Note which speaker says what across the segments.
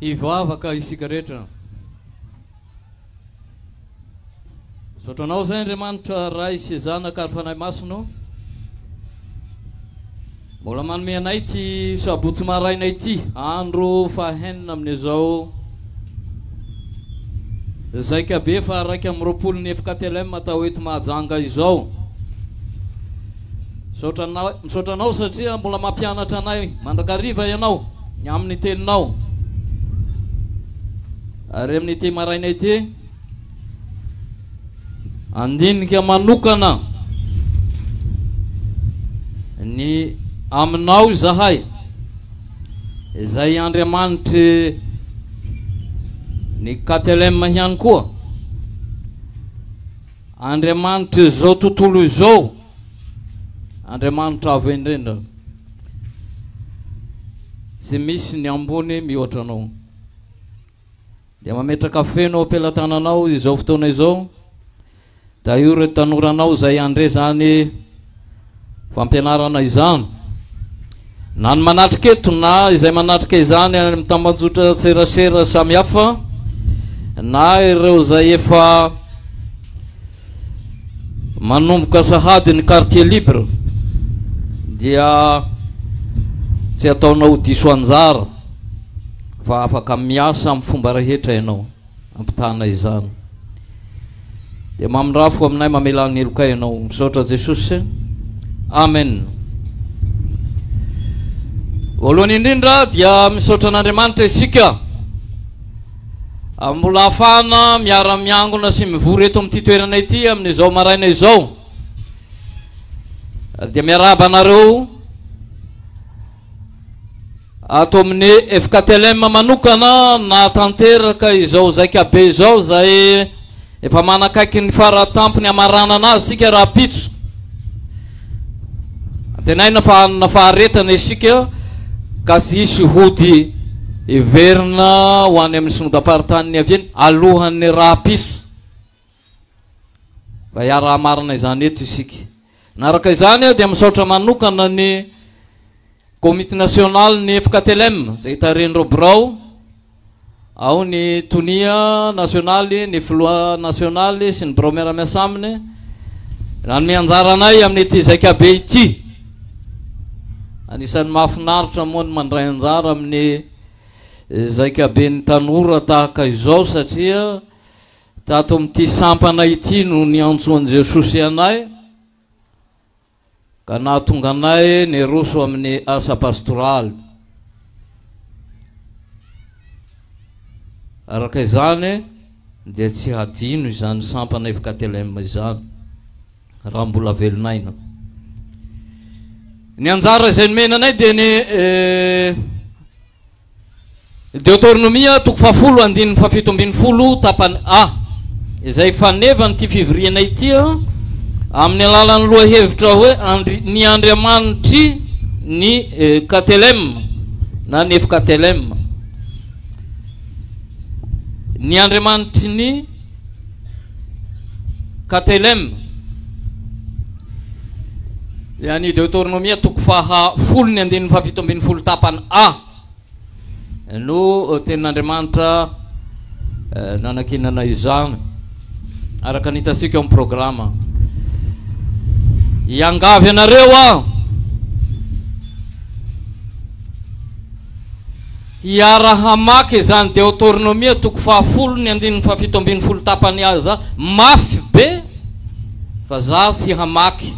Speaker 1: Hivavaka isika rehetra. Misaotra anao izay Andriamanitra Ray sy Zanaka ary Fanahy Masina. Mbola manome anay ity sabotsy maraina ity, andro fahenina amin'izao Zaika be faha iraika amby roapolo ny FKTLM atao eto Mahajanga izao. Misaotra anao, misaotra anao satria mbola mampianatra anay mandrakariva ianao ny amin'ny teninao. Ary amin'ity maraina ity Handinika manokana ny aminao izahay izay Andriamanitry ny Katelem ihany koa Andriamanitry izao tontolo izao Andriamanitra avo indrindra tsy misy ny ambony mihoatra anao Dia mametraka feno ao am-pelatananao izao fotoana izao, dia aio ireo tanoranao izay handre izany fampianarana izany. Na ny manatrika eto na izay manatrika izany any amin'ny tambanjotra serasera samihafa, na ireo izay efa manomboka sahady ny quartier libre dia tsy ataonao diso anjara fa afaka miasa amin'ny fomba rehetra ianao ampitahana izany dia mamindrafo aminay mamela ny heloka ianao misaotra Jesosy amen voalohany indrindra dia misaotra an'Andriamanitra isika Mbola afahana miara miangona sy mivory eto amin'ity toerana ity amin'izao maraina izao dia miarahaba anareo ato amin'ny FKTLM manokana nahatanteraka izao zaika be izao izay Efa manakaiky ny faratampony hamaranana azy isika rahampitso. Antenaina fa hanana faharetana isika ka tsy hisy hody hiverina ho any amin'ny synodam-paritany niaviany alohan'ny rahampitso. Fa hiara-hamarana izany eto isika. Araka izany aho dia misaotra manokana ny Komity Nasionaly ny FKTLM izay tarehin'ireo birao ao ny Tonia Nasionaly, ny Filoha Nasionaly sy ny birao miara-miasa aminy nanome anjara anay amin'ity zaikabe ity. Anisan'ny mahafinaritra moa ny mandray anjara amin'ny zaikaben'ny tanora tahaka izao satria Tato amin'ity sampana ity no niantsoan'i Jesosy anay ka nahatonga anay niroso amin'ny asa pastoraly. Araka izany dia tsy hadino izany sampana FKTLM izany raha mbola velon'aina. Ny anjara izay nomena anay dia ny eh, Deoteronomia, toko fahafolo, andininy fahafito ambin'ny folo, tapany A, izay faneva an'ity fivoriana ity amin'ny alalan'ny lohahevitra hoe andri, ny andriamanitry ny Katelem na Nefkatelem, ny andriamanitry ny KTLM, dia ny Deoteronomia toko faha folo ny andininy faha fito ambin'ny folo tapany A no tenin'Andriamanitra nanakinana izany araka ny hitantsika ao amin'ny programa. Iangavy anareo aho Iaraha-maka izany Deoteronomia toko fahafolo ny andininy fahafito ambin'ny folo tapany aza mafy be fa za tsy hamaky.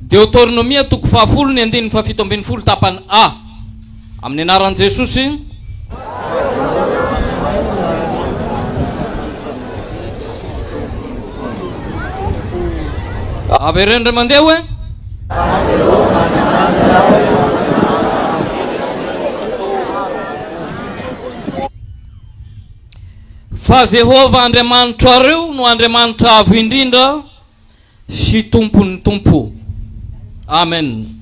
Speaker 1: Deoteronomia toko fahafolo ny andininy fahafito ambin'ny folo tapany A. Amin'ny anaran'i Jesosy. Avereno ry mandeha hoe. Fa Jehovah Andriamanitrareo no Andriamanitra Avo Indrindra sy Tompon'ny tompo. Amen.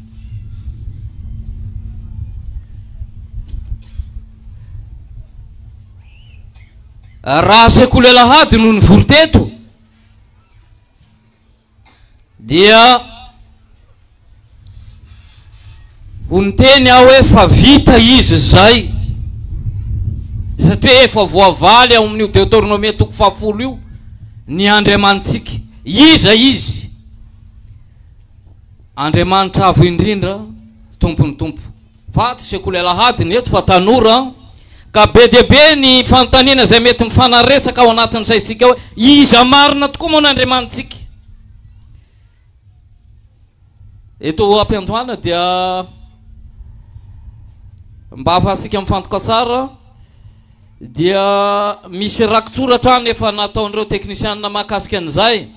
Speaker 1: Raha sekoly alahady no nivory teto, dia ho niteny aho hoe fa vita izy izay satria efa voavaly ao amin'io deotornomia toko fahafolo io ny andriamanitsika iza izy andriamanitra avo indrindra tompon'ny tompo Vato sy akoho alahady ny eto fa tanora ka be dia be ny fanontaniana izay mety mifanaretsaka ao anatin'ny saintsika hoe iza marina tokoa moa ny Andriamanitsika? Eto ampiandohana dia mba hahafahantsika mifantoka tsara dia misy rakitsoratra any efa nataon'ireo teknisianina mahakasika an'izay.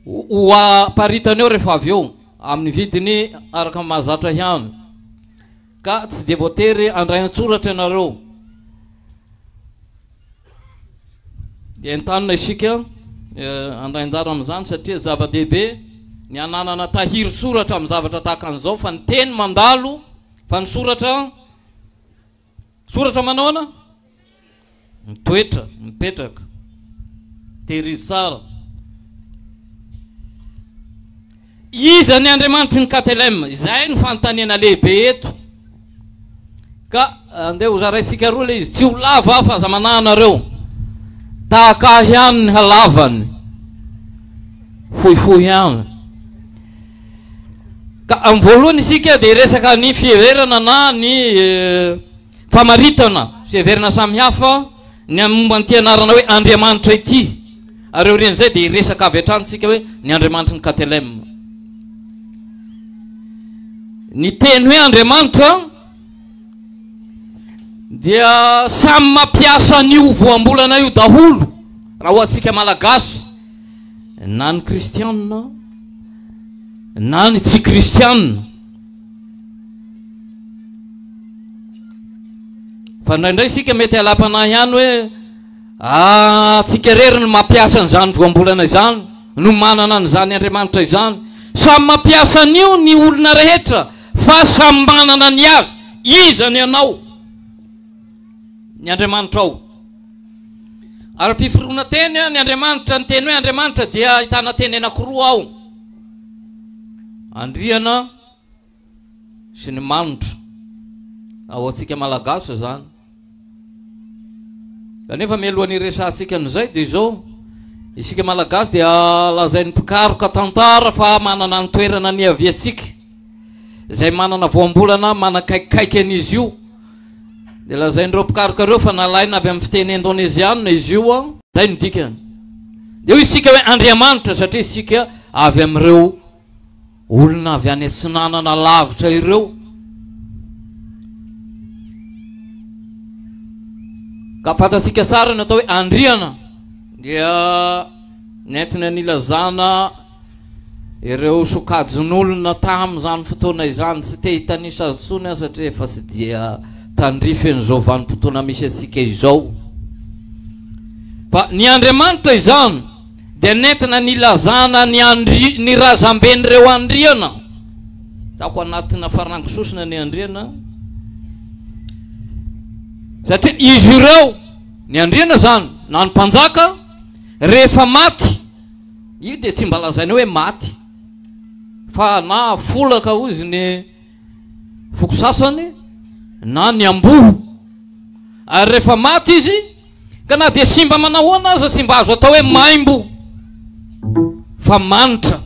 Speaker 1: ho aparitany eo rehefa avy eo amin'ny vidiny araka ny mahazatra ihany ka tsy dia voatery handray an-tsoratra ianareo dia entanina isika eh, handray anjara amin'izany satria zava-dehibe ny ananana tahiry soratra amin'ny zavatra tahaka an'izao fa ny teny mandalo fa ny soratra Soratra manaona? Mitoetra, mipetraka. Tehirizy tsara. Iza ny Andriamanitry ny KTLM? Izay no fanontaniana lehibe eto. Ka andeha ho zaraintsika roa le izy. Tsy ho lava fa aza manahy anareo. Tahaka ahy ihany ny halavany. Fohifohy ihany. Ka amin'ny voalohany isika dia hiresaka ny fiheverana na ny famaritana fiheverana samihafa ny amin'ny momba an'ity anarana hoe Andriamanitra ity. Ary aorian'izay dia hiresaka avy hatrany isika hoe ny Andriamanitry ny Katelem. Ny teny hoe Andriamanitra dia samy mampiasa an'io voambolana io daholo raha ho antsika malagasy na ny kristianina na ny tsy kristianina fa ndraindray isika mety alapanahy ihany hoe atsika ah, rery ny mampiasa an'izany voambolana izany no manana an'izany andriamanitra izany samy mampiasa an'io ny olona rehetra fa samy manana ny azy izany ianao ny andriamanitra ao Ara-piforonan-teny ny Andriamanitra, ny teny hoe Andriamanitra dia ahitana teny anankiroa ao, Andriana sy ny manitra, ao antsika Malagasy izany. Kanefa mialohan'ny hiresahantsika an'izay dia izao, isika Malagasy dia lazain'ny mpikaroka tantara fa manana ny toerana niaviantsika. izay manana voambolana manakaikikaiky an'izy io. Dia lazain'ireo mpikaroka ireo fa nalaina avy amin'ny fiteny indoneziana izy io. Ah. Izay no dikany. Dia hoy isika hoe Andriamanitra satria isika avy amin'ireo olona avy any atsinanana lavitra ireo. Ka fantatsika tsara ny atao hoe Andriana dia nentina nilazana Ireo sokajin'olona tamin'izany fotoana izany tsy te hitanisa azy intsony aho satria efa tsy dia tandrify an'izao vanim-potoana misy antsika izao. Fa ny Andriamanitra izany dia nentina nilazana ny, andri, ny razamben'ireo andriana. Taoko anatina farango sosona ny andriana. Satria izy ireo, ny andriana izany, na ny mpanjaka, rehefa maty, Io dia tsy mba lazaina hoe maty fa na folaka hozy ny foko sasany na ny amboa ary rehefa maty izy ka na dia simba manahoana aza tsy mba azo atao hoe maimbo fa manitra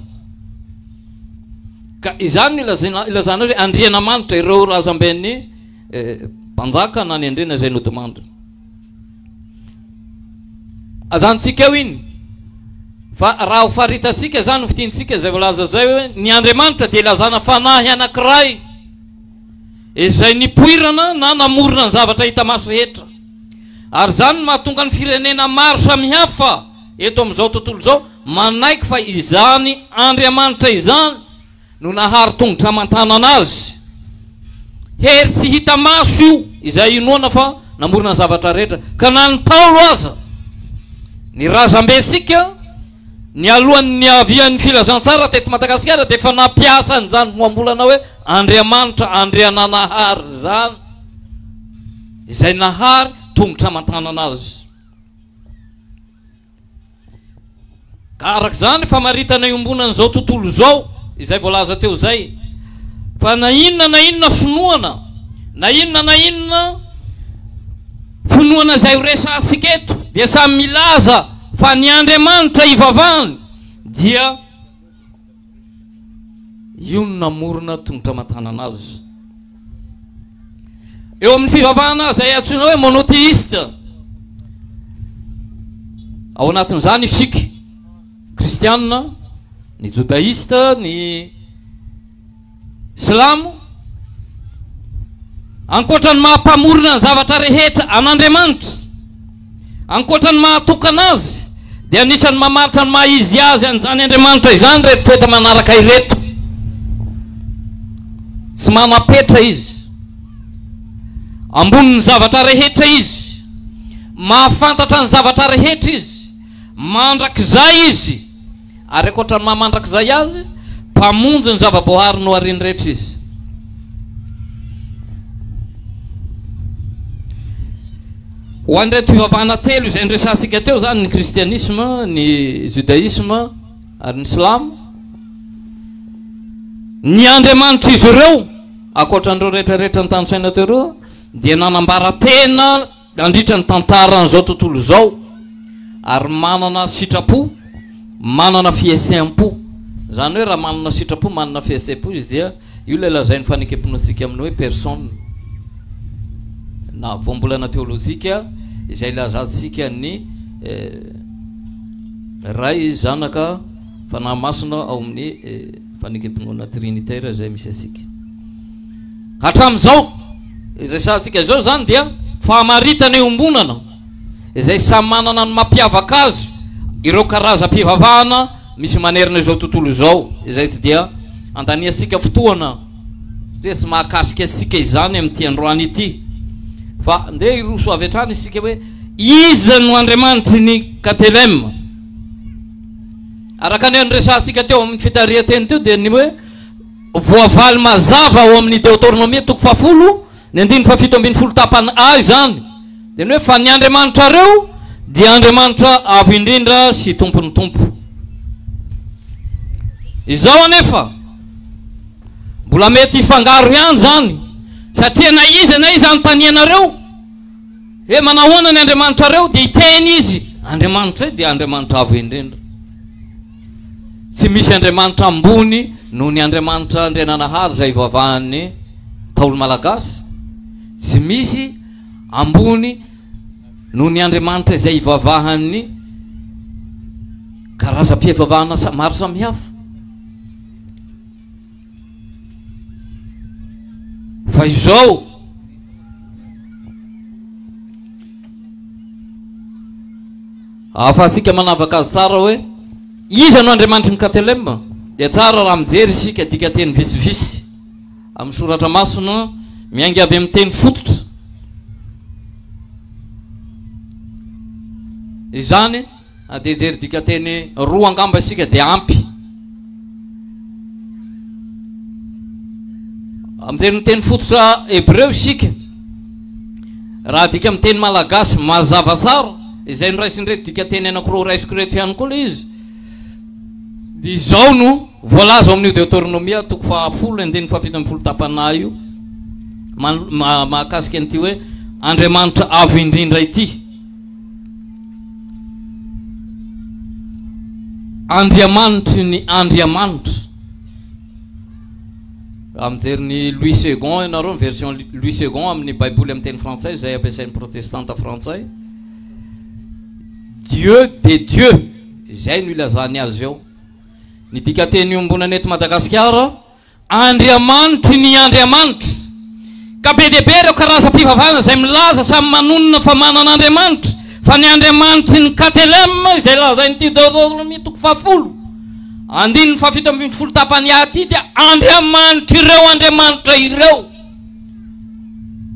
Speaker 1: ka izany ilazana ilazana hoe andriana manitra ireo razamben'ny eh, mpanjaka na ny andriana izay nodimandrina Ajanontsika eo iny. Fa raha ho faritantsika izany fitintsika izay voalaza izay hoe ny Andriamanitra dia ilazana fanahy anankiray izay nipoirana na namorona ny zavatra hita maso rehetra. Ary izany no mahatonga ny firenena maro samihafa eto amin'izao tontolo izao manaiky fa izany Andriamanitra izany no naharo tongotra aman-tanana azy. Hery tsy hita maso io izay inoana fa namorona ny zavatra rehetra, ka na ny Ntaolo aza, ny razambentsika, nialohan'ny niavian'ny filazantsara teto Madagasikara dia efa nampiasa an'izany voambolana hoe Andriamanitra, Andriananahary izany, izay nahary tongotra aman-tanana azy. Ka araka izany famaritana iombonan'izao tontolo izao izay voalaza teo izay fa na inona na inona finoana na inona na inona finoana izay horesahantsika eto dia samy milaza fa ny Andriamanitra ivavahany dia Io no namorona tongotra aman-tanana azy. Eo amin'ny fivavahana izay antsoina hoe monotheiste, ao anatin'izany isika, kristianina, ny jodaista, ny Silamo, ankoatra ny maha Mpamorona ny zavatra rehetra an'Andriamanitra, ankoatra ny maha tokana Azy, dia anisan'ny mamaritra ny maha izy Azy an'izany Andriamanitra izany ireto toetra manaraka ireto, Tsy manam-petra Izy, ambonin'ny zavatra rehetra Izy, mahafantatra ny zavatra rehetra Izy, mandrakizay Izy, Ary ankoatra ny maha mandrakizay azy, Mpamonjy ny zava-boahary nohariany rehetra izy. Ho an'ireto fivavahana telo izay noresahantsika teo izany, ny kristianisma, ny judaisma ary ny silamo, ny andriamanitr'izy ireo, ankoatra an'ireo rehetra rehetra notanisaina teo ireo, dia nanambara tena nandritra ny tantaran'izao tontolo izao ary manana sitrapo, manana fiheseham-po. Izany hoe raha manana sitrapo, manana fiheseham-po izy dia io ilay lazain'ny fanekempiantsika amin'ny hoe personne na voambolana teolojika izay ilazantsika ny eh, Ray, Zanaka, Fanahy Masina ao amin'ny eh, Fanekem-pinoana trinitaire izay misy antsika hatramin'izao. Ny resahantsika izao izany dia famaritana iombonana izay samy manana ny mampiavaka azy ireo karazam-pivavahana misy manerana izao tontolo izao. Izay tsy dia andaniantsika fotoana satria tsy mahakasika antsika izany amin'ity androany ity. Fa ndeha hiroso avy hatrany isika hoe iza no Andriamanitry ny KTLM. Araka ny niresahantsika teo amin'ny fitarihan-teny teo dia ny hoe voavaly mazava ao amin'ny Deotornomia toko fahafolo ny andininy fahafito ambin'ny folo tapany A izany dia ny hoe fa ny Andriamanitrareo dia Andriamanitra avo indrindra sy tompon'ny tompo. Izao anefa mbola mety hifangaro ihany izany satria na iza na iza anontanianareo He manahoana ny andriamanitrareo? Dia hiteny izy, Andriamanitray dia Andriamanitra avo indrindra. Tsy misy andriamanitra ambony noho ny Andriamanitra Andriananahary izay ivavahan'ny Ntaolo Malagasy. Tsy misy ambony noho ny andriamanitra izay ivavahan'ny karazam-pivavahana maro samihafa. Fa izao ahafahantsika manavaka azy tsara hoe iza no Andriamanitry ny Katelema dia tsara raha mijery isika dikateny vitsivitsy amin'ny soratra masina miainga avy amin'ny teny fototra izany Na dia hijery dikanteny roa angamba isika dia ampy. Mijery ny teny fototra hebreo isika. Raha adika amin'ny teny malagasy mazava tsara, izay noraisin'ireto dikanteny anankiroa raisiko ireto ihany koa ilay izy, dia izao no voalaza ao amin'io Deoteronomia toko fahafolo andininy fahafito ambin'ny folo tapanahy io mahakasika an'ity hoe Andriamanitra avo indrindra ity. Andriamanitry ny Andriamanitra. Raha mijery ny Louis Second ianareo, ny version Louis Second amin'ny Baiboly amin'ny teny frantsay izay ampiasain'ny protestanta frantsay, Dieu de Dieu, izay no ilazany azy eo. Ny dikanteny iombonana eto Madagasikara, Andriamanitry ny Andriamanitra, ka be dia be ireo karazam-pivavahana izay milaza samy manonona fa manana Andriamanitra, fa ny Andriamanitry ny KTLM izay lazain'i Deuteronome toko fahafolo, andininy fahafito ambin'ny folo tapany A ity dia Andriamanitr'ireo Andriamanitra ireo.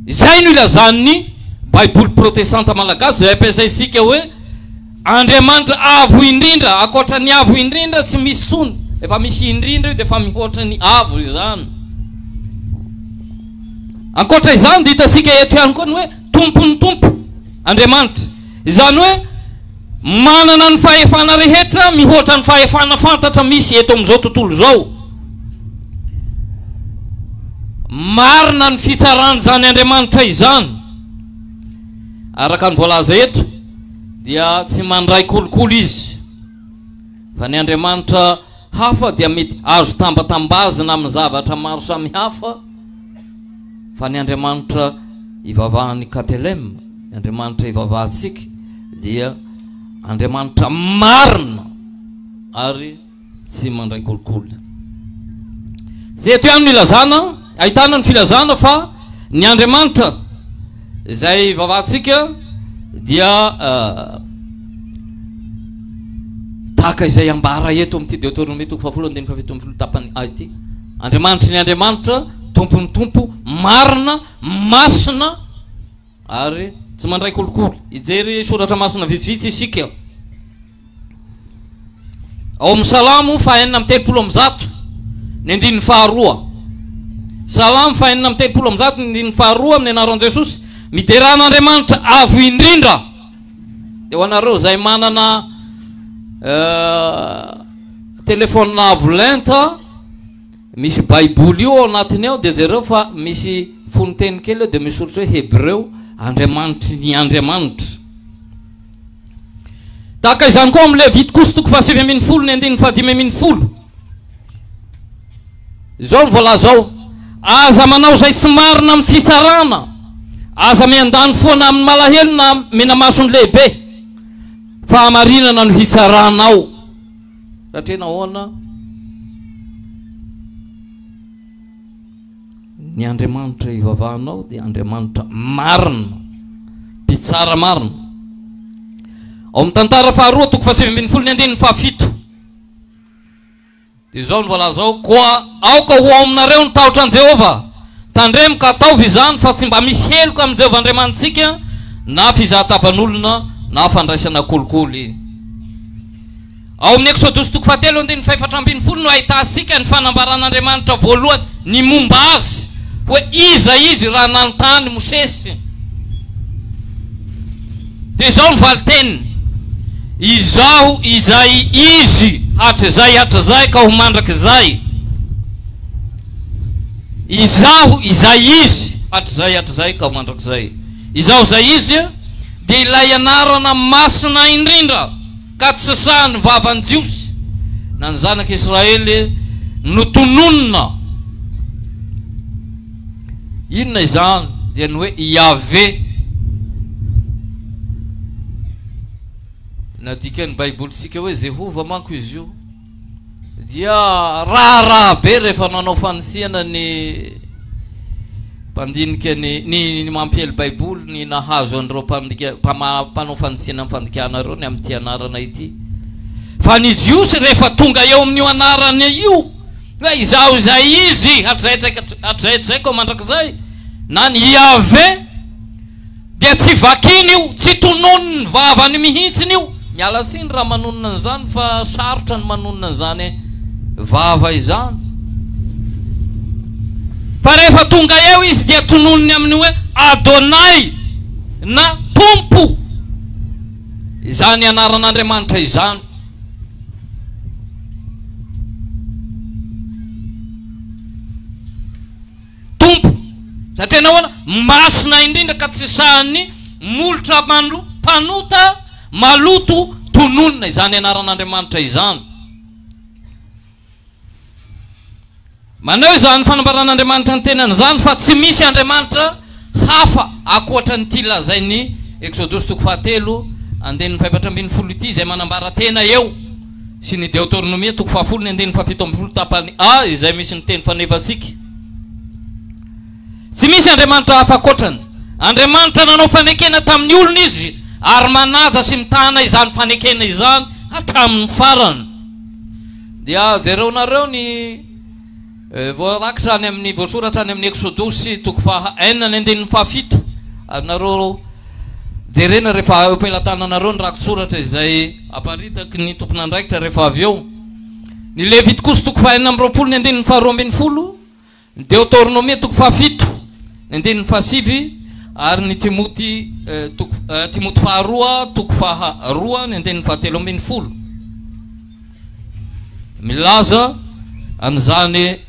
Speaker 1: Izay no ilazan'ny Baiboly Protestanta Malagasy izay ampiasaintsika hoe, Andriamanitra Avo Indrindra, ankoatra ny Avo Indrindra tsy misy tsony, efa misy indrindra io dia efa mihoatra ny Avo izany. Ankoatra izany dia hitantsika eto ihany koa ny hoe Tompon'ny Tompo, Andriamanitra. Izany hoe manana ny fahefana rehetra mihoatra ny fahefana fantatra misy eto amin'izao tontolo izao. Marina ny fitsaran'izany Andriamanitra izany araka ny voalaza eto. dia tsy mandray kolikoly izy, fa ny andriamanitra hafa dia mety azo tambatambazina amin'ny zavatra maro samihafa, fa ny andriamanitra ivavahan'i Katelem, ny andriamanitra ivavahantsika dia andriamanitra marina ary Tsy mandray kolikoly. Tsy eto ihany no ilazana, ahitana ny filazana fa ny Andriamanitra izay ivavahantsika dia uh, tahaka izay ambara eto amin'ity deoteronomia toko fahafolo andininy fahafito ambin'ny folo tapany a ity andriamanitry ny andriamanitra tompon'ny tompo marina masina ary tsy mandray kolikoly hijery soratra masina vitsivitsy isika Ao amin'ny Salamo fahenina amin'ny telopolo amin'ny zato ny andininy faharoa. Salamo fahenina amin'ny telopolo amin'ny zato ny andininy faharoa amin'ny anaran'i Jesosy. Miderà an'Andriamanitra avo indrindra. Dia ho anareo izay manana uh, telefona avo lenta, misy baiboly io ao anatiny ao, dia jereo fa misy fononteny kely eo, dia misy soritra hoe hebreo, Andriamanitry ny Andriamanitra. Tahaka izany koa amin'ny Levity kosa toko fahasivy ambin'ny folo ny andininy fahadimy ambin'ny folo. Izao ny voalaza ao. Aza manao izay tsy marina amin'ny fitsarana. Aza miandany foana amin'ny malahelo na menamaso ny lehibe. Fahamarinana no hitsaranao. Raha tena ahoana? Ny Andriamanitra ivavahanao dia Andriamanitra marina, Mpitsara marina. Ao amin'ny tantara faharoa, toko fahasivy ambin'ny folo, ny andininy fahafito, dia izao no voalaza ao, Koa aoka ho ao aminareo ny tahotra an'i Jehovah. Tandremo ka ataovy izany, fa tsy mba misy heloka amin'i Jehovah Andriamanitsika, na fizahatavan'olona, na fandraisana kolikoly. Ao amin'ny Eksodosy toko fahatelo andininy fahefatra ambin'ny folo no ahitantsika ny fanambaran'Andriamanitra voalohany ny momba Azy hoe iza Izy raha nanontany Mosesy dia izao ny valin-teniny, Izaho izay Izy hatrizay hatrizay ka ho mandrakizay. Izaho izay Izy hatrizay hatrizay ka ho mandrakizay. Izaho izay Izy dia ilay anarana masina indrindra. Ka tsy sahy nivava ny Jiosy na ny zanak'i Israely notononina. Inona izany? Dia ny hoe Iaveh. Nadikan'ny Baibolintsika hoe Jehovah manko izy io. dia raharaha be rehefa nanao fanisihana ny mpandinika ny ny mampiely baiboly ny nahazo an'ireo mpandika mpanao fanisihana ny fandikana ireo ny amin'ity anarana ity fa ny jiosy rehefa tonga eo amin'io anarana io hoe izaho izay izy hatrizay hatraizaiko mandrakizay na ny Yahvé Dia tsy vakiny io, tsy tonony ny vavany mihitsiny io. Miala tsiny raha manonona an'izany fa sarotra ny manonona an'izany vava izany. Fa rehefa tonga eo izy dia tononiny amin'ny hoe Adonai na Tompo izany anaran'Andriamanitra izany. Tompo, satria Ianao an, masina indrindra ka tsy sahin'ny molotra mano, mpanota maloto tononina izany anaran'Andriamanitra izany. Maneho izany fanambaran'Andriamanitra ny tenany izany fa tsy misy Andriamanitra hafa ankoatran'ity lazain'ny Eksodosy toko fahatelo andininy fahefatra ambin'ny folo ity izay manambara tena eo. sy ny Deoteronomia, toko fahafolo ny andininy fahafito ambin'ny folo tapany A, izay misy ny teny fanevantsika. Tsy misy andriamanitra hafa ankoatrany. Andriamanitra nanao fanekena tamin'ny olony Izy, ary manaja sy mitana izany fanekena izany hatramin'ny farany. Dia jereonareo ny. Voarakitra any amin'ny voasoratra any amin'ny Eksodosy toko faha enina ny andininy faha fito. Azonareo jerena rehefa eo am-pelatananareo ny rakitsoratra izay aparitaky ny tompon'andraikitra rehefa avy eo. Ny Levitikosy toko faha enina amby roapolo ny andininy faha roa ambin'ny folo, ny Deotornomia toko faha fito ny andininy faha sivy ary ny Timoty toko Timoty faharoa toko faha roa ny andininy faha telo ambin'ny folo. Milaza an'izany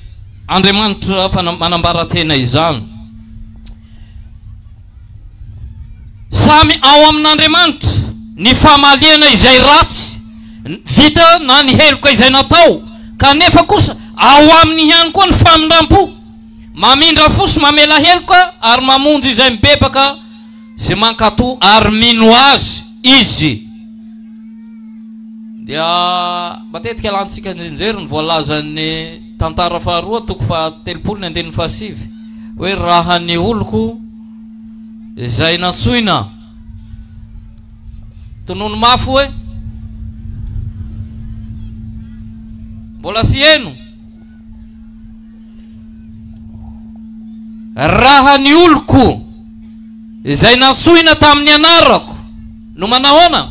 Speaker 1: Andriamanitra manambara-tena izany. Samy ao amin'Andriamanitra ny famaliana izay ratsy vita na ny heloka izay natao, kanefa kosa ao aminy ihany koa ny famindram-po. Mamindra fo sy mamela heloka ary mamonjy izay mibebaka. Ze mankato ary mino azy izy dia matetika alantsika anjinjery ny voalazan'ny tantara faharoa toko fahatelopolo ny andininy fahasivy hoe raha ny oloko izay nantsoina tonony mafy hoe mbola sy heno Raha ny oloko izay nantsoina tamin'ny anarako no manahoana?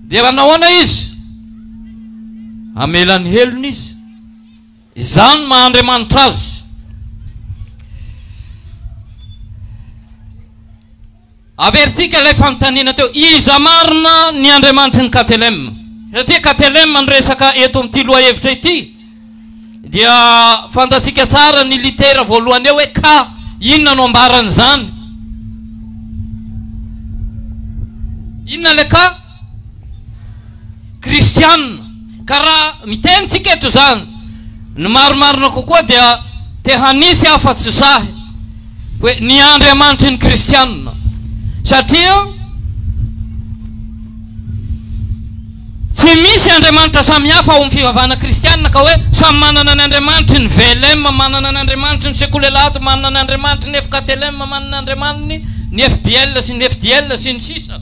Speaker 1: Dia manahoana izy? Hamela ny helony izy. Izany maha Andriamanitra azy. Averintsika ilay fanontaniana teo, Iza marina ny Andriamanitry ny KTLM? Satria KTLM no resaka eto amin'ity lohahevitra ity dia fantatsika tsara ny litera voalohany eo hoe K, inona no ambaran'izany? Inona ilay K? kristianina. Ka raha miteny tsika eto izany, ny marimarina kokoa dia te hanisy afa tsy sahy hoe ny Andriamanitry ny kristianina. Satria tsy misy Andriamanitra samy hafa ao amin'ny fivavahana kristianina ka hoe samy manana ny Andriamanitry ny VLM, manana ny Andriamanitry ny Sekoul Elat, manana ny Andriamanitry ny FKTLM, manana ny Andriamaniny ny FBL sy ny FDL sy ny sisa.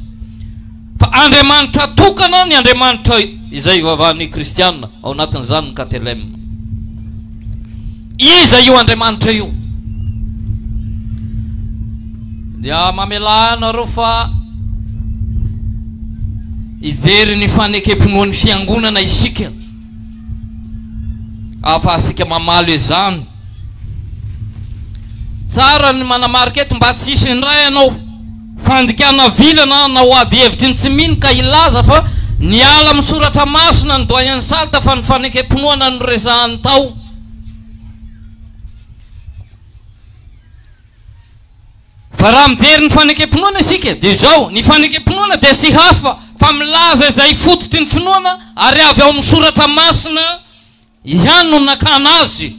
Speaker 1: Fa Andriamanitra tokana ny Andriamanitra izay ivavahan'ny Kristiana, ao anatin'izany ny KTLM. Iza io Andriamanitra io? Dia mamelà anareo fa hijery ny fanekem-pinoan'ny fiangonana isika ahafahantsika mamaly izany. Tsara ny manamarika eto mba tsy hisy indray ianao Fandikana vilana na ho ady hevitry ny tsy mino ka hilaza fa niala amin'ny soratra masina ny Doyen Salt fa ny fanekem-pinoana no resahany tao. Fa raha mijery ny fanekem-pinoana isika dia izao, ny fanekem-pinoana dia tsy hafa fa milaza izay fototry ny finoana ary avy ao amin'ny soratra masina, Ihany no nakana azy.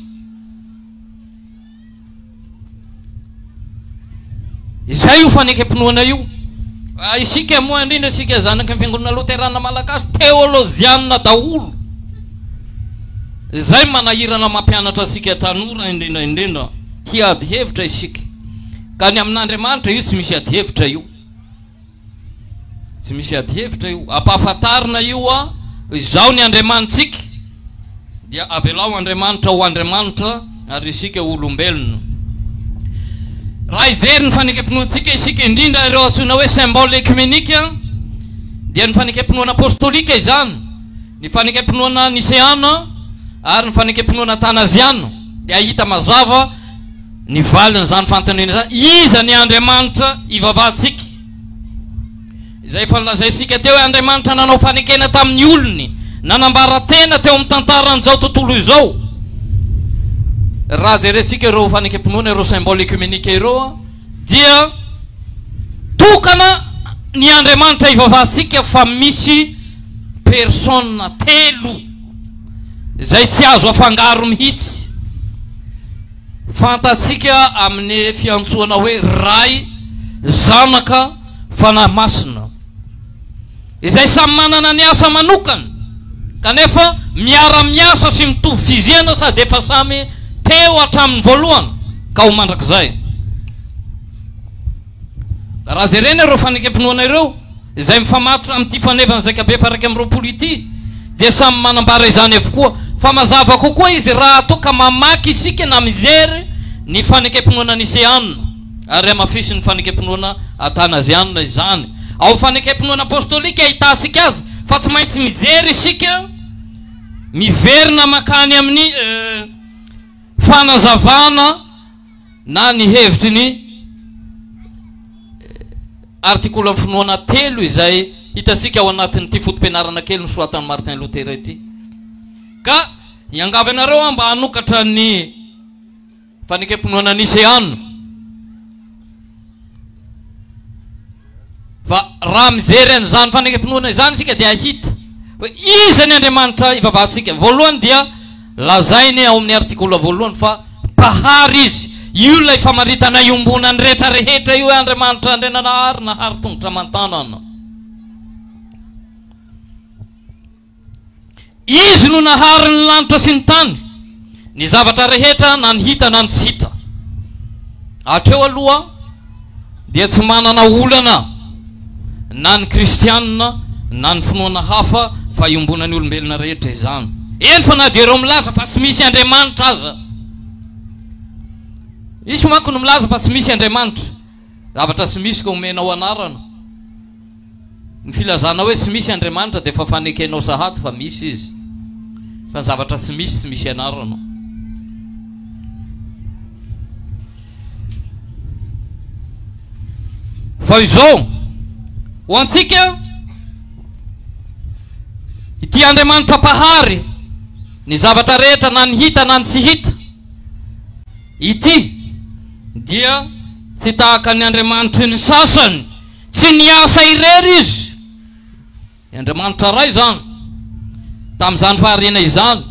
Speaker 1: Izay io fanekempinoana io. Ah, isika moa indrindra isika zanaky ny fiangonana loterana malagasy teolozianina daholo izay manahirana mampianatra asika tanora indrindra indrindra tia ady hevitra isika ka ny amin'andriamanitra io tsy misy ady hevitra io Tsy misy adihevitra io. Ampahafantarina io hoa Izaho ny Andriamanitsika. Dia avelao Andriamanitra ho Andriamanitra ary isika olombelona. Raha hijery ny fanekempinoantsika isika, indrindra ireo antsoina hoe symbole ekimenika, dia ny fanekempinoana apostolika izany, ny fanekempinoana niseana ary ny fanekempinoana atanaziana dia hahita mazava Ny valin'izany fanontaniana izany, Iza ny Andriamanitra ivavahantsika? Izay efa nolazaintsika teo hoe Andriamanitra nanao fanekena tamin'ny olony, nanambara tena teo amin'ny tantaran'izao tontolo izao. Raha jerentsika ireo fanekempinoana, ireo symbole ecumenika ireo dia tokana ny Andriamanitra ivavahantsika fa misy persona telo izay tsy azo afangaro mihitsy. Fantatsika amin'ny fiantsoana hoe Ray, Zanaka, Fanahy Masina, izay samy manana ny asa manokany kanefa miara-miasa sy mitovy fizena sady efa samy teo hatramin'ny voalohany ka ho mandrakizay. Raha jerena ireo fanekempinoana ireo izay mifamatotra amin'ity faneva ny zaika be faha iraika amby roapolo ity dia samy manambara izany avokoa fa mazava kokoa izy raha toa ka mamaky isika na mijery ny fanekempinoana niseanina ary hamafisin'ny fanekempinoana atanazianina izany ao fanekempinoana apostolika ahitantsika azy fa tsy maintsy mijery isika miverina makany amin'ny eh, fanazavana na ny hevitry ny artikolo amin'ny finoana telo izay hitantsika ao anatin'ity foto-pianarana kely nosoratan'i Martin Luther ity. Ka hiangavy anareo aho mba hanokatra ny fanekempinoana niseana. Fa raha mijery an'izany fanekempinoana izany isika dia hahita hoe iza ny Andriamanitra ivavahantsika. Voalohany dia lazainy ao amin'ny artikola voalohany fa Mpahary izy. Io ilay famaritana iombonan'ny rehetra rehetra io hoe Andriamanitra Andriananahary nahary tongotra aman-tanana. Izy no nahary ny lanitra sy ny tany, ny zavatra rehetra na ny hita na ny tsy hita. Hatreo aloha dia tsy manana olana na ny kristianina na ny finoana hafa fa iombonan'ny olombelona rehetra izany. Eny fa na dia ireo milaza fa tsy misy Andriamanitra aza. Misy manko ny milaza fa tsy misy Andriamanitra. Zavatra tsy misy ka omenao anarana. Ny filazana hoe tsy misy Andriamanitra dia efa fanekenao sahady fa misy Izy, fa ny zavatra tsy misy tsy misy ianarana. Fa izao, ho antsika, ity Andriamanitra Mpahary, ny zavatra rehetra na ny hita na ny tsy hita, ity dia tsy tahaka ny Andriamanitry ny sasany, Tsy niasa irery izy, ny Andriamanitra Ray izany, tamin'izany fahariana izany.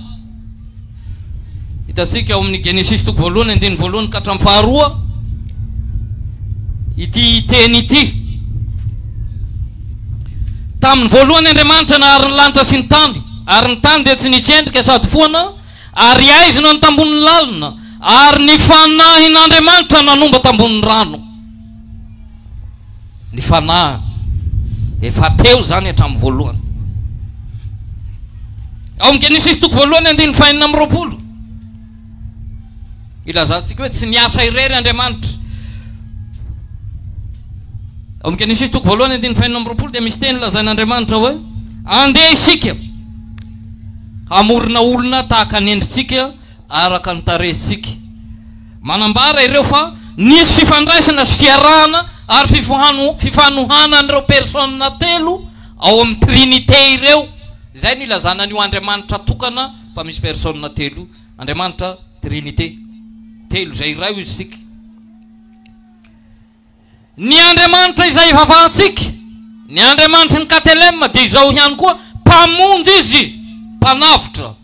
Speaker 1: Hitantsika ao amin'ny Genesisy toko voalohany andininy voalohany ka hatramin'ny faharoa ity teny ity. Tamin'ny voalohany Andriamanitra nahary ny lanitra sy ny tany, ary ny tany dia tsy nisy endrika sady foana, ary haizina ny tambonin'ny lalina, ary ny Fanahin'Andriamanitra nanomba tambonin'ny rano. Ny fanahy efa teo izany hatramin'ny voalohany. Ao amin'ny Genesisy toko voalohany andininy fahenina amby roapolo. Ilazantsika hoe tsy miasa irery Andriamanitra. Ao amin'ny Genesisy toko voalohany andininy fahenina amby roapolo dia misy teny lazain'Andriamanitra hoe andeha isika hamorona olona tahaka ny endritsika araka ny tarehintsika. Manambara ireo fa nisy fifandraisana sy fiarahana ary fifohano, fifanohanan'ireo persona telo ao amin'ny Trinite ireo, izay no ilazana an'io Andriamanitra tokana fa misy persona telo io, Andriamanitra Trinite, telo izay iray hoy isika. Ny Andriamanitra izay ivavahantsika, ny Andriamanitry ny Katelema dia izao ihany koa, Mpamonjy Izy, Mpanavotra.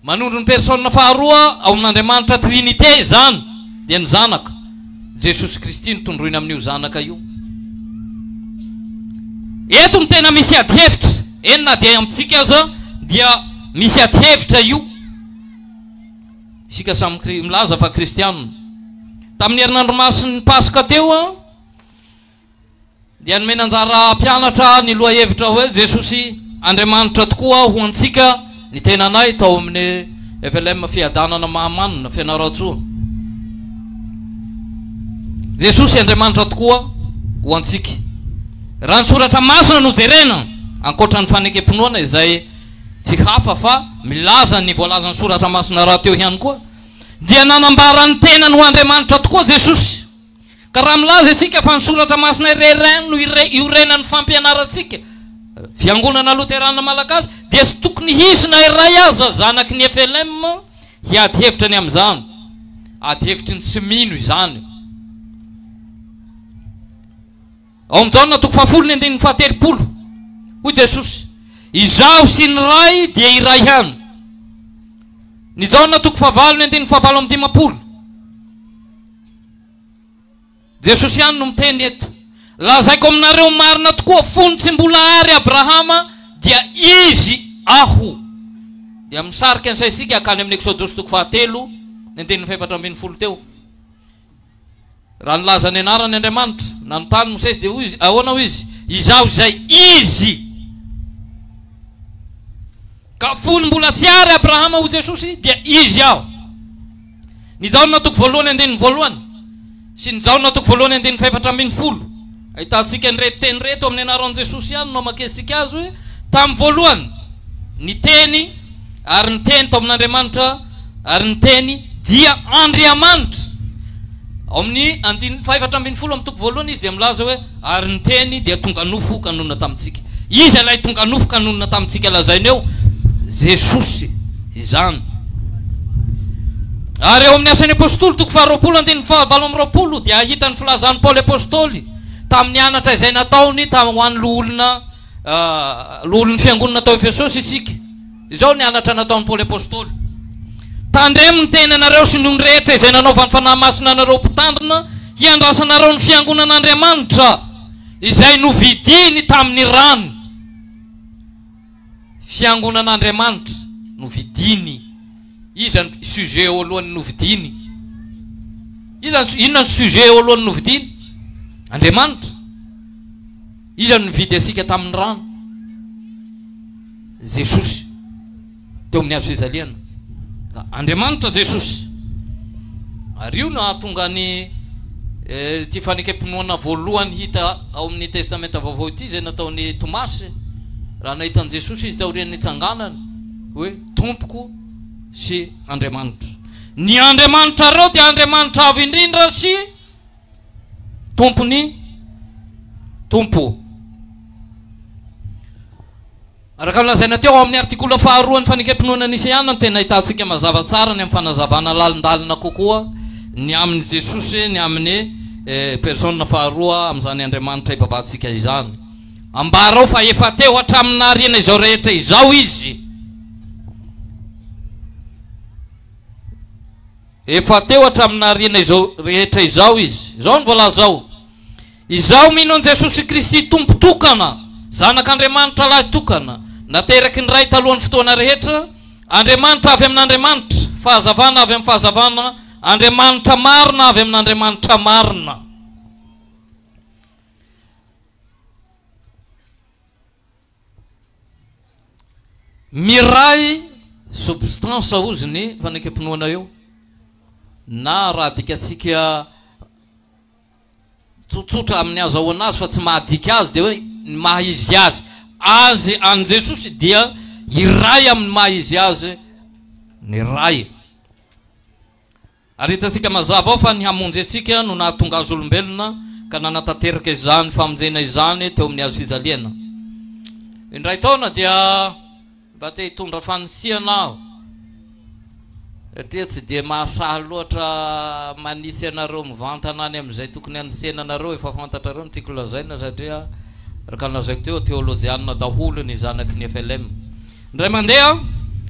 Speaker 1: Manondro ny Persona faharoa ao amin' Andriamanitra Trinite izany, dia ny Zanaka, Jesosy Kristy no tondroina amin' io Zanaka io. Eto no tena misy adi-hevitra, eny na dia amintsika aza dia misy adi-hevitra io. Isika samy kri- milaza fa Kristiana. Tamin' ny Herinandro Masin' ny Paska teo, dia nomena anjara hampianatra ny lohahevitra hoe Jesosy Andriamanitra tokoa ho antsika ny tenanay tao amin'ny FLM Fiadanana Mahamanina, Fianarantsoa. Jesosy Andriamanitra tokoa ho antsika. Raha ny soratra masina no jerena, ankoatra ny fanekempinoana izay tsy hafa fa milaza ny voalazan'ny soratra masina rahateo ihany koa, dia nanambara ny tenany ho Andriamanitra tokoa Jesosy. Ka raha milaza isika fa ny Soratra Masina irery ihany no iorenan'ny fampianarantsika, Fiangonana Loterana Malagasy, dia tsy tokony hisy na iray aza zanaky ny FLM hiady hevitra ny amin'izany. Ady hevitry ny tsy mino izany. Ao amin'i Jaona toko fahafolo ny andininy fahatelopolo, hoy Jesosy, Izaho sy ny Ray dia iray ihany. Ny Jaona toko fahavalo ny andininy fahavalo amby dimampolo. Jesosy ihany no miteny eto. Lazaiko aminareo marina tokoa, fony tsy mbola ary Abrahama dia Izy Aho. Dia misarika ny saintsika hankany amin'ny Eksodosy toko fahatelo, ny andininy fahefatra ambin'ny folo teo. Raha nilaza ny anarany Andriamanitra, nanontany Mosesy dia hoy izy, ahoana hoy izy, Izaho izay Izy. Ka fony mbola tsy ary Abrahama ho Jesosy dia Izy aho. Ny Jaona toko voalohany andininy voalohany sy ny Jaona toko voalohany andininy fahefatra ambin'ny folo ahitantsika an'ireto teny ireto amin'ny anaran'i Jesosy ihany no amakesintsika azy hoe tamin'ny voalohany ny teny ary ny teny tao amin'Andriamanitra Ary ny Teny dia Andriamanitra. Ao amin'ny andininy fahefatra ambin'ny folo amin'ny toko voalohany izy dia milaza hoe, Ary ny Teny dia tonga nofo ka nonina tamintsika. Iza ilay tonga nofo ka nonina tamintsika lazainy eo? Jesosy izany. Ary ao amin'ny Asan'ny Apostoly, toko faharoapolo, andininy fahavalo amby roapolo, dia hahita ny filazan'i Paoly Apostoly tamin'ny anatra izay nataony ho an'ny loholona, loholon'ny fiangonana tao Efesosy isika. Izao ny halatra nataon'i Paoly Apostoly, Tandremo ny tenanareo sy ny ony rehetra izay nanaovan'ny Fanahy Masina anareo mpitandrina hiandrasanareo ny fiangonan'Andriamanitra izay novidiny tamin'ny rany. Fiangonan'Andriamanitra novidiny. Iza ny sujet eo alohany novidiny? Iza inona ny sujet eo alohany novidiny? Andriamanitra. Iza no nividy antsika tamin'ny rano? Jesosy teo amin'ny hazo fijaliana. Ka Andriamanitra Jesosy. Ary io no hahatonga ny eh, ity fanekempinoana voalohany hita ao amin'ny Testamenta Vaovao ity izay nataon'i Tomasy raha nahita an'i Jesosy izy taorian'ny nitsanganany hoe Tompoko sy Andriamanitro. Ny Andriamanitrareo dia Andriamanitra avo indrindra sy Tompony Tompo. Araka ny lazaina teo amin'ny artikola faharoan'ny fanekempinoana Niseana no tena ahitantsika mazava tsara ny amin'ny fanazavana lalindalina kokoa ny amin'i Jesosy ny amin'ny eh, persona faharoa amin'izany Andriamanitra ivavahantsika izany. Ambarao fa efa teo hatramin'ny nahariana izao rehetra izao izy. Efa teo hatramin'ny nahariana izao rehetra izao izy. Izao no voalaza ao, Izaho mino an'i Jesosy Kristy Tompo tokana, Zanak'Andriamanitra lahy tokana, nateraky ny Ray talohan'ny fotoana rehetra, Andriamanitra avy amin'Andriamanitra, Fahazavana avy amin'ny Fahazavana, Andriamanitra marina avy amin'Andriamanitra marina. Miray substance hozy ny fanekempinoana eo na raha adikatsika tsotsotra amin'ny azahoana azy fa tsy mahadika azy dia hoe ny maha izy azy azy an'i Jesosy dia iray amin'ny maha izy azy ny Ray. Ary hitantsika mazava ao fa ny hamonjy antsika no nahatonga azy olombelona ka nanatanteraka izany famonjena izany teo amin'ny hazofijaliana. Indray taona dia mba te hitondra fanisihana aho satria tsy dia mahasahy loatra manitsy anareo mivantana any amin'izay tokony hanisihana anareo, efa fantatrareo ny tiako lazaina satria araka ny lazaiko teo, teolojianina daholo ny zanaky ny FLM. Indray mandeha,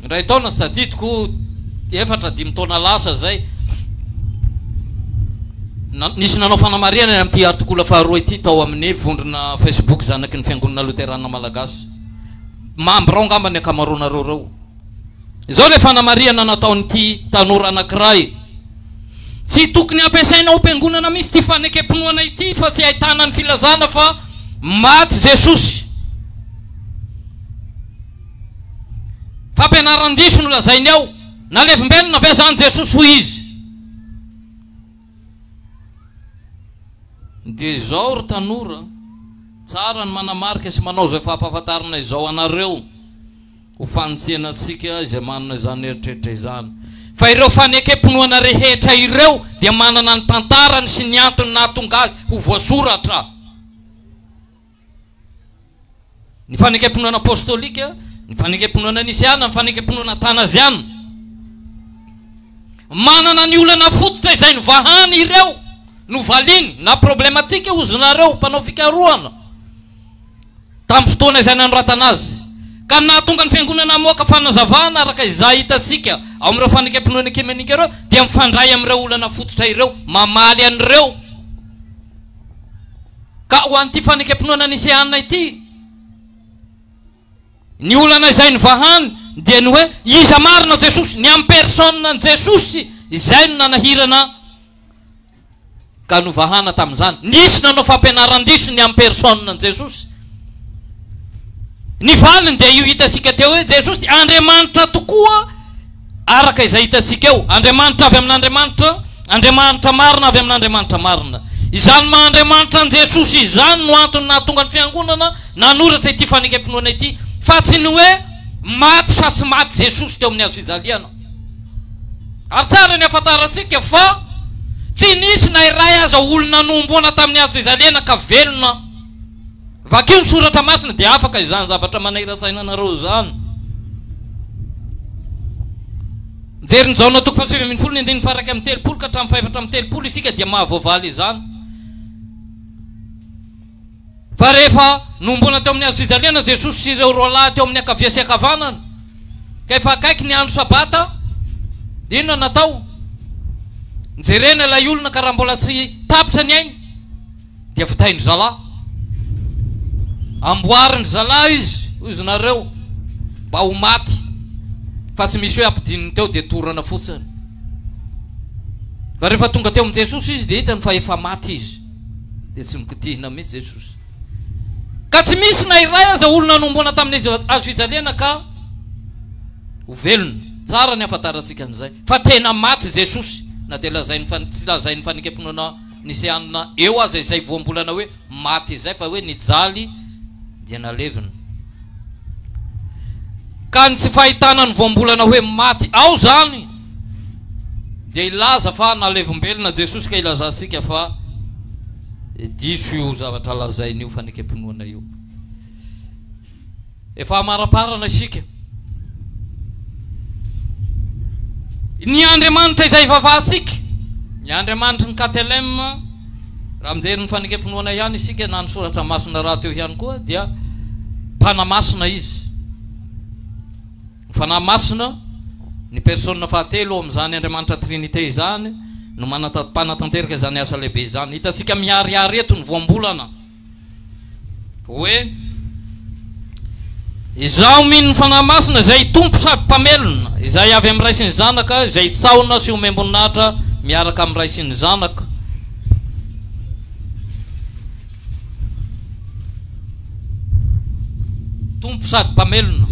Speaker 1: indray taona, tsy tadidiko, efatra, dimy taona lasa izay, nisy nanao fanamarihana ny amin'ity artikola faharoa ity tao amin'ny vondrona Facebook zanaky ny Fiangonana Loterana Malagasy. Mambra ao angamba ny ankamaroanareo ireo. Izao ilay fanamarihana nataon'ity tanora anankiray. Tsy tokony hampiasaina ho piangonana mihitsy ity fanekem-pinoana ity fa tsy ahitana ny filazana fa maty Jesosy. Fampianaran-diso no lazainy ao. Nalevimbelona ve izany Jesosy hoy izy? Dia izao ry tanora, tsara ny manamarika sy manao izay fampahafantarana izao anareo. Ho fanintsiana antsika izay manana izany eritreritra izany. Fa ireo fanekempinoana rehetra ireo dia manana ny tantarany sy ny antony nahatonga azy ho voasoratra. Ny fanekempinoana apostolika, ny fanekempinoana nisiana, ny fanekempinoana atanaziana. Manana ny olana fototra izay nivahany ireo, novaliany, na problematika ozy nareo mpanao fikarohana. tamin'ny fotoana izay nanoratana azy, ka ny nahatonga ny Fiangonana hamoaka fanazavana araka izay hitantsika ao amin'ireo fanekempinoana ekimenika ireo dia mifandray amin'ireo olana fototra ireo mamaly an'ireo ka ho an'ity fanekempinoana niseanina ity ny olana izay nivahany dia ny hoe iza marina Jesosy ny amin'ny personne ny Jesosy izay no nanahirana ka novahana tamin'izany. Nisy nanao fampianaran-diso ny amin'ny personan'i Jesosy. Ny valiny dia io hitantsika teo hoe Jesosy dia Andriamanitra tokoa araka izay hitantsika eo. Andriamanitra avy amin'Andriamanitra, Andriamanitra marina avy amin'Andriamanitra marina. Izany maha Andriamanitra an'i Jesosy izany no antony nahatonga ny Fiangonana nanoratra ity fanekempinoana ity, fa tsy ny hoe maty sa tsy maty Jesosy teo amin'ny hazofijaliana. Ary tsara ny hafantarantsika fa tsy nisy na iray aza olona nohomboana tamin'ny antso izalena ka velona. Vakio ny soratra masina dia afaka izany zavatra manairan-tsaina anareo izany. Mijery ny Jaona toko fahasivy ambin'ny folo ny andininy faharaika amby telopolo ka hatramin'ny fahefatra amby telopolo isika dia mahavoavaly izany. Fa rehefa nohomboana teo amin'ny hazofijaliana Jesosy sy ireo roalahy teo amin'ny ankavia sy ankavanana, ka efa akaiky ny andro Sabata, dia inona no natao? Nojerena ilay olona ka raha mbola tsy tapitra ny ainy, dia votain-dry zalahy. Amboarin-dry zalahy izy, hoy izy nareo, mba ho maty, fa tsy misy hoe ampidininy teo dia torana fotsiny. Fa rehefa tonga teo amin'i Jesosy izy dia hitany fa efa maty izy. dia tsy mikotihina mihitsy Jesosy. Ka tsy misy na iray aza olona nomboana tamin'ny hazo fijaliana ka ho velona. Tsara ny hafantarantsika an'izay fa tena maty Jesosy na dia lazain'ny fa tsy lazain'ny fanekempinoana niseanina eo aza izay voambolana hoe maty izay fa hoe nijaly dia nalevina. Ka ny tsy fahitana ny voambolana hoe maty ao izany dia hilaza fa nalevombelona Jesosy ka hilazantsika fa diso io zavatra lazainy io fanekempinoana io. Efa amaraparana isika. Ny Andriamanitra izay ivavahantsika, ny Andriamanitry ny KTLM, raha mijery ny fanekempinoana ihany isika na ny soratra masina rahateo ihany koa dia mpanamasina izy. Ny Fanahy Masina, ny Persona fahatelo ao amin'izany Andriamanitra Trinite izany, no manata, mpanatanteraka izany asa lehibe izany. Hitantsika miharihary eto ny voambolana hoe, Izaho mino ny Fanahy Masina, izay Tompo sady Mpamelona, izay avy amin'ny Ray sy ny Zanaka, izay sahona sy omem-boninahitra miaraka amin'ny Ray sy ny Zanaka. Tompo sady Mpamelona.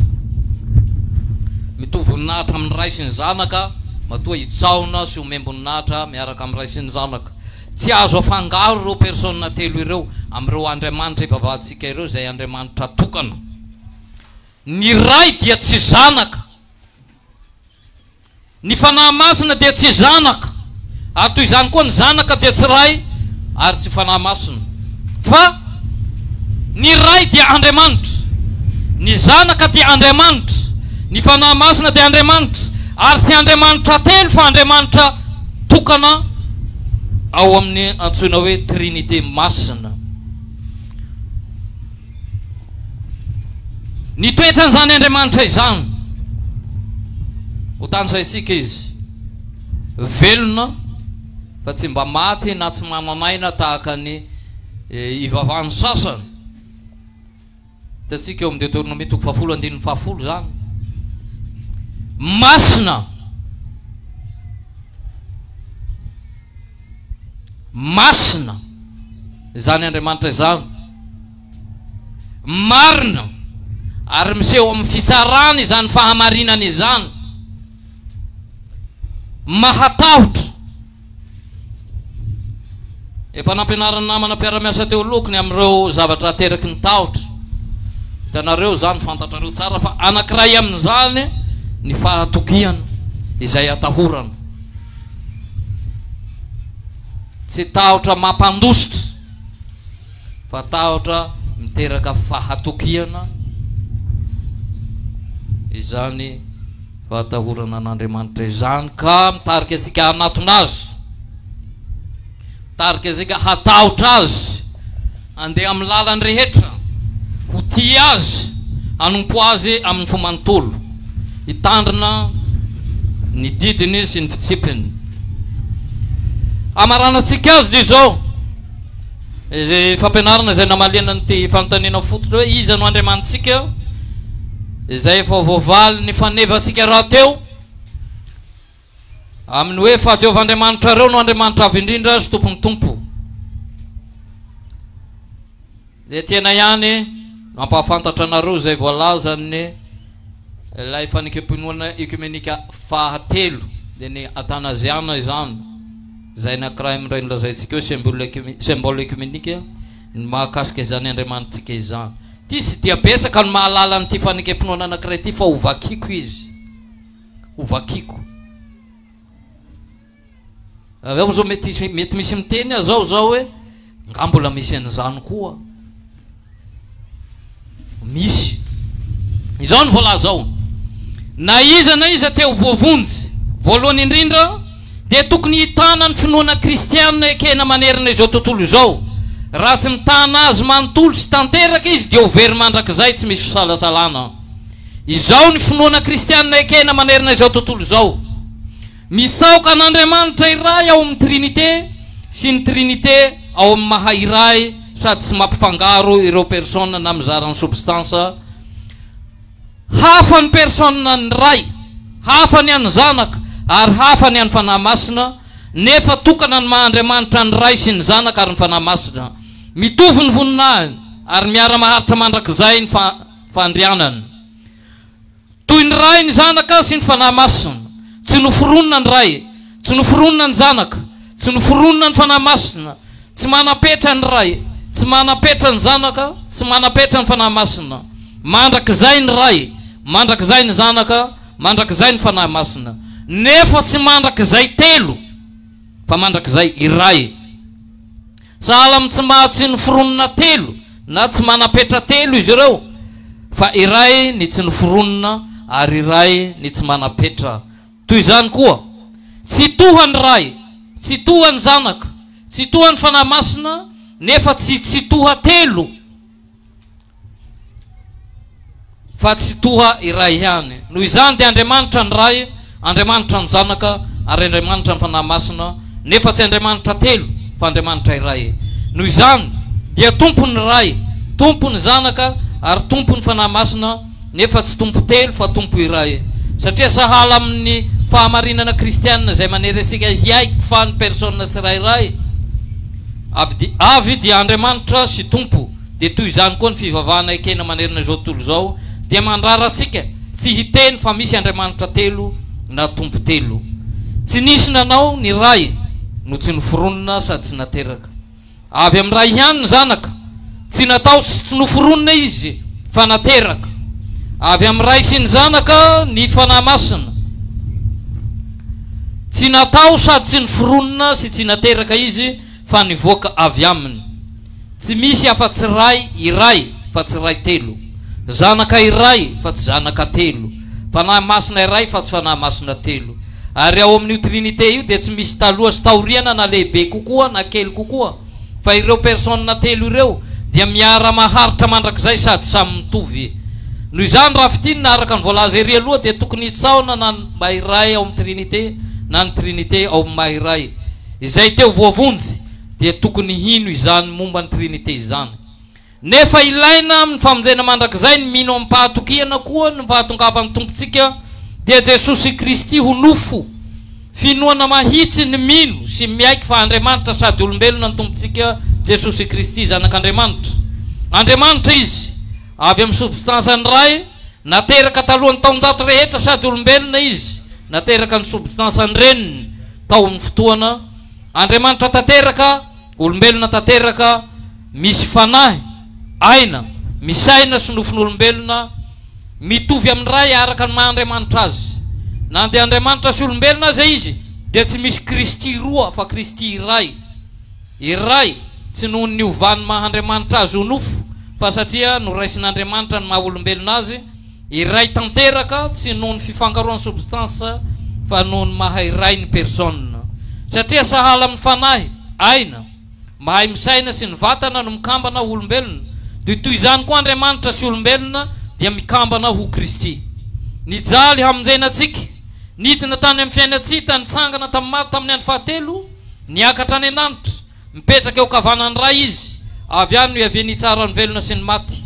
Speaker 1: Mitohy voninahitra amin'ny Ray sy ny Zanaka, matoa hitsaona sy ho mem-boninahitra miaraka amin'ny Ray sy ny Zanaka. Tsy azo afangaro ireo Persona telo ireo amin'ireo Andriamanitra ivavahantsika ireo izay Andriamanitra tokana. Ny Ray dia tsy Zanaka. Ny Fanahy Masina dia tsy zanaka, ary toy izany koa ny Zanaka dia tsy Ray ary tsy Fanahy Masina, fa Ny Ray dia Andriamanitra, ny Zanaka dia Andriamanitra, ny Fanahy Masina dia Andriamanitra, ary tsy Andriamanitra telo fa Andriamanitra tokana ao amin'ny antsoina hoe Trinite Masina. Ny toetran'izany Andriamanitra izany, hotanisaintsika Izy, velona fa tsy mba maty na tsy manan'aina tahaka ny eh, ivavahan'ny sasany. Hitantsika eo amin'ny Deoteronomia toko fahafolo andininy fahafolo izany. Masina Masina izany Andriamanitra izany. Marina ary miseho amin'ny fitsarany izany fahamarinana izany. Mahatahotra. Efa nampianarin'ny namana mpiara-miasa teo alohako ny amin'ireo zavatra ateraky ny tahotra. Hitanareo izany, fantatrareo tsara fa anankiray amin'izany ny fahatokiana izay atahorana. Tsy tahotra mampandositra fa tahotra miteraka fahatokiana izany fahatahorana an'Andriamanitra izany ka mitarika antsika hanatona azy. Tarika izay ka hatahotra Azy handeha amin'ny lalany rehetra, ho tia Azy, hanompo Azy amin'ny fo manontolo, hitandrina ny didiny sy ny fitsipiny. Hamaranantsika azy dia izao, izay fampianarana izay namaliana an'ity fanontaniana fototra hoe iza no Andriamanitsika, izay efa voavalin'ny fanevantsika rahateo. amin'ny hoe fa Jehovah Andriamanitrareo no Andriamanitra Avo Indrindra sy Tompon'ny Tompo. Dia tena ihany no hampahafantatra anareo izay voalazan'ny ilay fanekem-pinoana ekomenika fahatelo dia ny atanaziana izany izay nakiray amin'ireo nolazaintsika hoe symbole ekomenika ny mahakasika izany andriamanitsika izany ity sy dia betsaka ny mahalala an'ity fanekem-pinoana anakiray ity fa ho vakiako izy ho vakiko. Raha zao mety mety misy miteny aho zao zao hoe nga mbola misy an'izany koa. Misy. Izao ny voalazao. Na iza na iza teo voavonjy, voalohany indrindra dia tokony hitana ny finoana kristianina ekena manerana izao tontolo izao. Raha tsy mitana azy manontolo sy tanteraka izy dia ho very mandrakizay tsy misy fisalasalana. Izao ny finoana kristianina ekena manerana izao tontolo izao, Mitsaoka an'Andriamanitra iray ao amin'ny Trinite sy ny Trinite ao amin'ny Maha Iray sady tsy mampifangaro ireo persona na mizara ny sobstansa Hafa ny persona ny Ray, hafa ny an'ny Zanaka, ary hafa ny an'ny Fanahy Masina, nefa tokana ny maha Andriamanitra ny Ray sy ny Zanaka ary ny Fanahy Masina. Mitovy ny voninahiny ary miara-maharitra mandrakizay ny fandrianana. Toy ny Ray ny Zanaka sy ny Fanahy Masina. Tsy noforonina ny Ray, tsy noforonina ny Zanaka, tsy noforonina ny Fanahy Masina. Tsy manam-petra ny Ray, tsy manam-petra ny Zanaka, tsy manam-petra ny Fanahy Masina. Mandrakizay ny Ray, mandrakizay ny Zanaka, mandrakizay ny Fanahy Masina. Nefa tsy mandrakizay telo, fa mandrakizay iray. Sahala amin'ny tsy mahatsin'ny foronina telo na tsy manam-petra telo izy ireo, fa iray ny tsy ny foronina ary iray ny tsy manam-petra. Toy izany koa, Tsitoha ny Ray, tsitoha ny Zanaka, tsitoha ny Fanahy Masina, nefa tsy tsitoha telo. fa tsy toa iray ihany. Noho izany dia Andriamanitra ny Ray, Andriamanitra ny Zanaka ary Andriamanitra ny Fanahy Masina, nefa tsy Andriamanitra telo fa Andriamanitra iray. Noho izany dia Tompon'ny Ray, Tompon'ny Zanaka ary Tompon'ny Fanahy Masina, nefa tsy tompo telo fa tompo iray, satria sahala amin' ny fahamarinana kristiana izay manery antsika hiaiky fa ny persona tsirairay avy avy dia Andriamanitra sy Tompo, dia toy izany koa ny fivavahana ekena manerana izao tontolo izao dia mandrara antsika tsy hiteny fa misy Andriamanitra telo na Tompo telo, tsy nisy nanao ny Ray no tsy noforonina sady tsy nateraka. Avy amin'ny Ray ihany ny Zanaka. Tsy natao sy tsy noforonina Izy, fa nateraka. Avy amin'ny Ray sy ny Zanaka ny Fanahy Masina. Tsy natao sady tsy noforonina sy tsy nateraka Izy, fa nivoaka avy Aminy. Tsy misy afa-tsy Ray iray, fa tsy Ray telo. Zanaka iray, fa tsy Zanaka telo. Fanahy Masina iray, fa tsy Fanahy Masina telo. Ary ao amin'io Trinite io dia tsy misy taloha sy taoriana na lehibe kokoa na kely kokoa fa ireo personnes telo ireo dia miara-maharitra mandrakizay sady samy mitovy. Noho izany raha fintinina araka ny voalaza ery aloha dia tokony hitsaona na ny Mba iray ao amin'ny Trinite na ny Trinite ao Mba iray. Izay teo voavonjy dia tokony hino izany momba ny Trinite izany. Nefa ilaina amin'ny famonjena mandrakizay ny mino amim-pahatokiana koa ny fahatongavan'ny Tompontsika dia Jesosy Kristy ho nofo. Finoana mahitsy ny mino sy miaiky fa Andriamanitra sady olombelona ny Tompontsika Jesosy Kristy, Zanak'Andriamanitra. Andriamanitra Izy, avy amin'ny sobstansan'ny Ray, nateraka talohan'ny taonjato rehetra sady olombelona Izy, nateraka ny sobstansan'ny Reniny tao amin'ny fotoana Andriamanitra tanteraka, Olombelona tanteraka, misy fanahy, aina, misaina sy nofon'olombelona, mitovy amin'ny Ray araka ny maha Andriamanitra Azy. Na dia Andriamanitra sy olombelona aza Izy, dia tsy misy Kristy roa fa Kristy iray. Iray, tsy noho ny niovan'ny maha Andriamanitra Azy ho nofo, fa satria noraisin'Andriamanitra ny maha olombelona Azy, Iray tanteraka tsy noho ny fifangaroan'ny substance fa noho ny maha iray ny persona. Satria sahala amin'ny fanahy, aina, mahay misaina sy ny vatana no mikambana ho olombelona, dia toy izany koa Andriamanitra sy olombelona dia mikambana ho Kristy. Nijaly hamonjena antsika, nidina tany amin'ny fiainantsita, nitsangana tamin'ny maty tamin'ny andro fahatelo, niakatra any an-danitra, Mipetraka eo kavanan'ny Ray Izy, avy any no iaviany hitsara ny velona sy ny maty.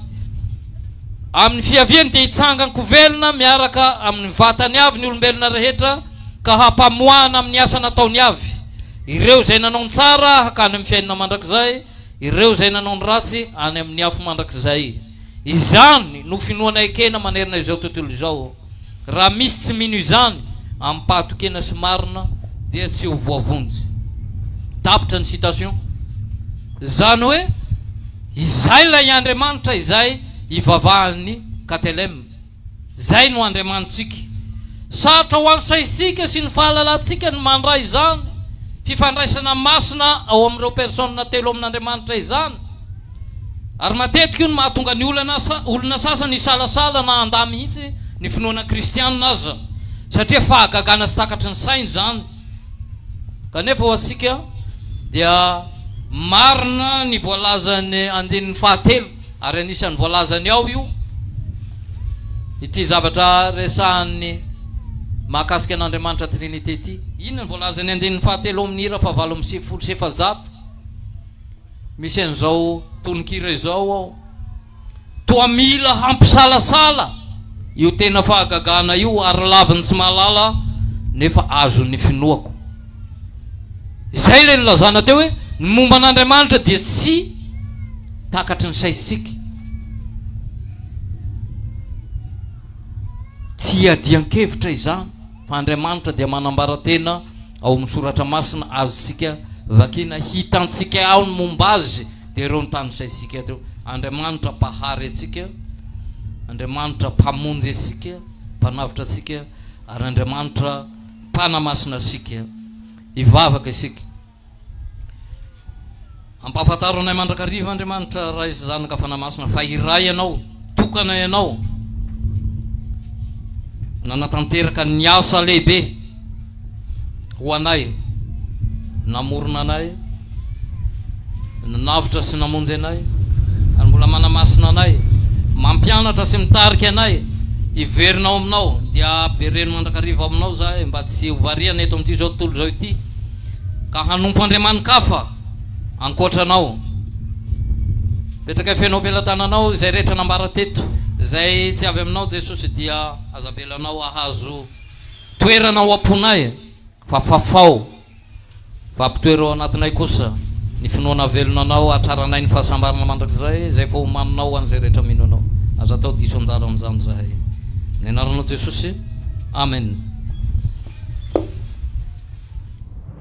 Speaker 1: Amin'ny fiaviany dia hitsangan-ko velona miaraka amin'ny vatany avy ny olombelona rehetra ka hampamoahana amin'ny asa nataony avy ireo izay nanao ny tsara hakany amin'ny fiainana mandrakizay, ireo izay nanao ny ratsy any amin'ny afo mandrakizay. Izany no finoana ekena manerana izao tontolo izao. Raha misy tsy mino izany amim-pahatokena sy marina dia tsy ho voavonjy. Tapitra ny citation. Izany hoe izay ilay Andriamanitra izay ivavahan'ny KTLM. Izay no Andriamanitsika. Sarotra ho an'ny saintsika sy ny fahalalantsika ny mandray izany fifandraisana masina ao amin'ireo personnes telo amin'Andriamanitra izany. Ary matetika io no mahatonga ny olana olona sasany hisalasala na handà mihitsy ny finoana kristianina aza, satria fahagagana tsy takatry ny sainy izany. Kanefa ho antsika dia marina ny voalazan'ny andininy fahatelo, ary anisan'ny voalazany ao io, ity zavatra resahany mahakasika an'Andriamanitra Trinite ity. Inona no voalazan'ny andininy fahatelo ao amin'ny Hira fahavalo amby sivifolo sy efajato? Misy an'izao tononkira izao ao, Toa mila hampisalasala io tena fahagagana io ary laviny tsy mahalala nefa azon'ny finoako. Izay ilay nilazana teo hoe ny momba an'Andriamanitra dia tsy takatry ny saintsika. Tsy iadian-kevitra izany fa Andriamanitra dia manambara tena Ao amin'ny soratra masina azontsika vakina hitantsika ao ny momba azy dia ireo notanisaintsika ireo, Andriamanitra mpahary antsika, Andriamanitra mpamonjy antsika, mpanavotra antsika ary Andriamanitra mpanamasina antsika hivavaka isika. Ampahafantaro anay mandrakariva Andriamanitra Ray sy Zanaka Fanahy Masina fa iray Ianao, tokana Ianao, nanatanteraka ny asa lehibe ho anay, namorona anay, nanavotra sy namonjy anay, ary mbola manamasina anay, mampianatra sy mitarika anay, hiverina ao Aminao, dia ampivereno mandrakariva ao Aminao izahay mba tsy ho variana eto amin'ity izao tontolo izao ity, ka hanompo andriamani-kafa. Ankoatra anao. Petraka feno am-pelatananao izay rehetra nambara teto. Izay tsy avy aminao Jesosy dia aza avelanao ahazo toerana ao am-ponay fa fafao fa ampitoero ao anatinay kosa ny finoana velona anao hatraranay ny fahasambarana mandrakizay izay vao homaninao ho an'izay rehetra mino anao. Aza atao diso anjara amin'izany izahay. Amin'ny anaranao Jesosy. Amen.